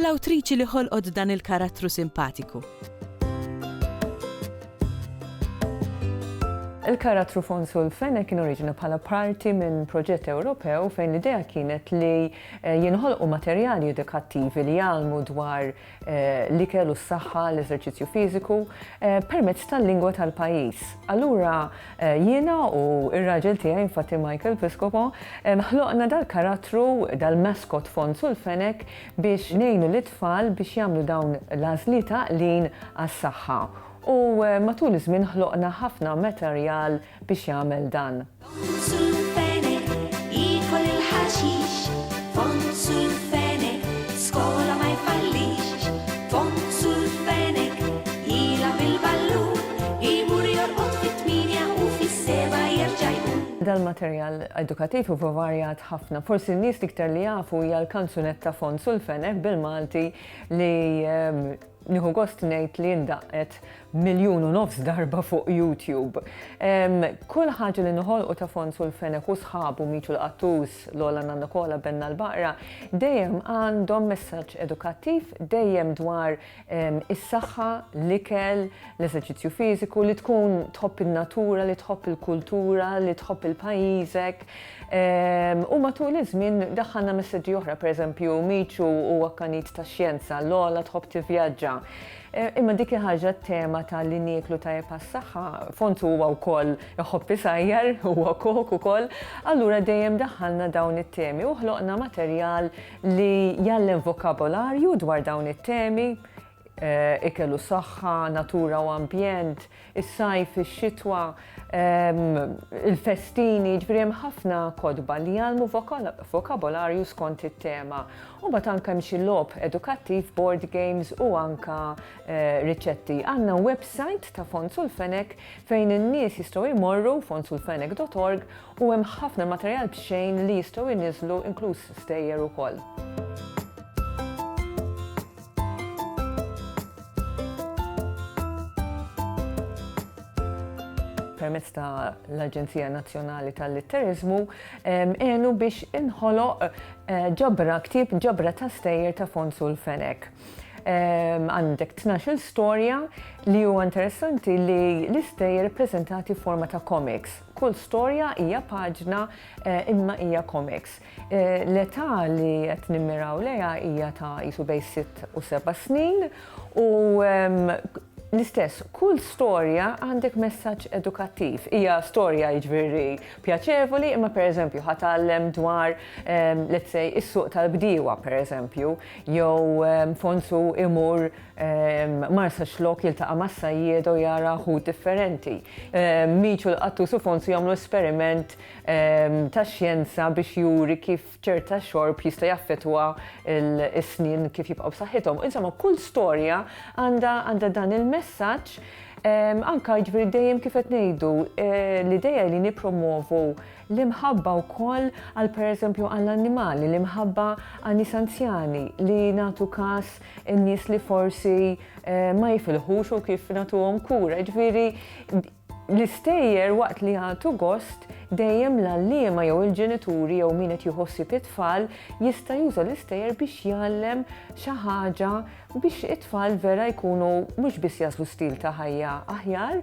L-awtriċi li ħolqot dan il-karattru simpatiku. Il-karattru Fonsu l-Fene kien oriġina bħala parti minn proġett Ewropew fejn l-idea kienet li eh, jinħolqu materjali edukattivi li jgħalmu dwar eh, li kellu s-saħħa, l-eżerċizzju fiżiku eh, permezz tal-lingwa tal-pajjiż. Allura jiena u ir-raġel tiegħi infatti Michael Piscopo ħloqna dal-karattru dal-maskot Fonsu l-Fenek biex ngħinu lit-tfal biex jagħmlu dawn l-għażliet għaqlin għas-saħħa u matul iż-żmien ħloqna ħafna materjal biex jagħmel dan. Dal-materjal edukattiv huwa varjat ħafna. Forsi n-nies l-iktar li jafu hija l-kanzunetta Fons u l-Fenek bil-Malti li nieħu gost ngħid li ndaqqet miljun u nofs darba fuq YouTube. Kull ħaġa li noħolqu ta' Fons u l-Fenek u sħabu Miċu l-Qattus, Lola Nanna Kola, Benna l-Baqra, dejjem għandhom messaġġ edukattiv, dejjem dwar is-saħħa, l-ikel, l-eżerċizzju fiżiku, li tkun tħobb in-natura, li tħobb il-kultura, li tħobb il-pajjiżek. Ehm, u matul iż-żmien daħħalna messaġġi oħra, pereżempju, miċu u akkanit ta' xjenza, l-ola tħobb tivvjaġġa. Eh, imma dik ħaġa tema ta' li nieklu ta' s-saħħa, fontu huwa wkoll iħobbi sajjar, huwa kok ukoll, allura dejjem daħħalna dawn it-temi u ħloqna materjal li jgħallem vokabolarju dwar dawn it-temi, eh, ikel u saħħa, natura u ambjent, is-sajf, ix-xitwa, ehm, il-festini, ġifieri hemm ħafna kodba li jgħallmu vokabolarju skont it-tema. U bat anke hemm xi logħob edukattiv, board games u anke eh, riċetti. Għandna website ta' Fond Sulfenek fejn in-nies jistgħu jmorru fondsulfenek.org U hemm ħafna materjal b'xejn li jistgħu jniżżlu inkluż stejjer ukoll. permezz ta' l-Aġenzija Nazzjonali tal-Litteriżmu għenu biex inħoloq eh, ġabra ktib ġabra ta' stejjer ta' Fonsu l-Fenek. Għandek 12 storja li huwa interessanti li l-istejjer prezentati forma ta' komiks. Kull storja hija paġna imma hija komiks. L-età li qed nimmiraw lejha hija ta' qisu bejn sitt u seba' snin u l-istess, kull storja għandek messaġġ edukattiv. Hija storja jiġifieri pjaċevoli imma pereżempju ħa tgħallem dwar let's say is-suq tal-bdiewa pereżempju jew Fonsu imur Marsax lok jiltaqa' mas-sajjieda u jara ħut differenti. Micio, l-qattus u Fonsu jagħmlu esperiment tax-xjenza biex juri kif ċerta xorb jista' jaffettwa s-snien kif jibqgħu b'saħħithom. Insomma, kull storja għandha dan il-messaġġ anke jiġifieri dejjem kif qed ngħidu l-idea hi li nippromwovu l-imħabba wkoll għal pereżempju għall-annimali, l-imħabba għan-nies anzjani li nagħtu kas in-nies li forsi ma jifilħux u kif nagħtuhom kura. Ġifieri l-istejjer waqt li jagħtu gost dejjem l-għalliema jew il-ġenituri jew min qed jħossib it-tfal jista' juża l-istejjer biex jgħallem xi ħaġa biex it-tfal vera jkunu mhux biss jaslu stil ta' ħajja aħjar,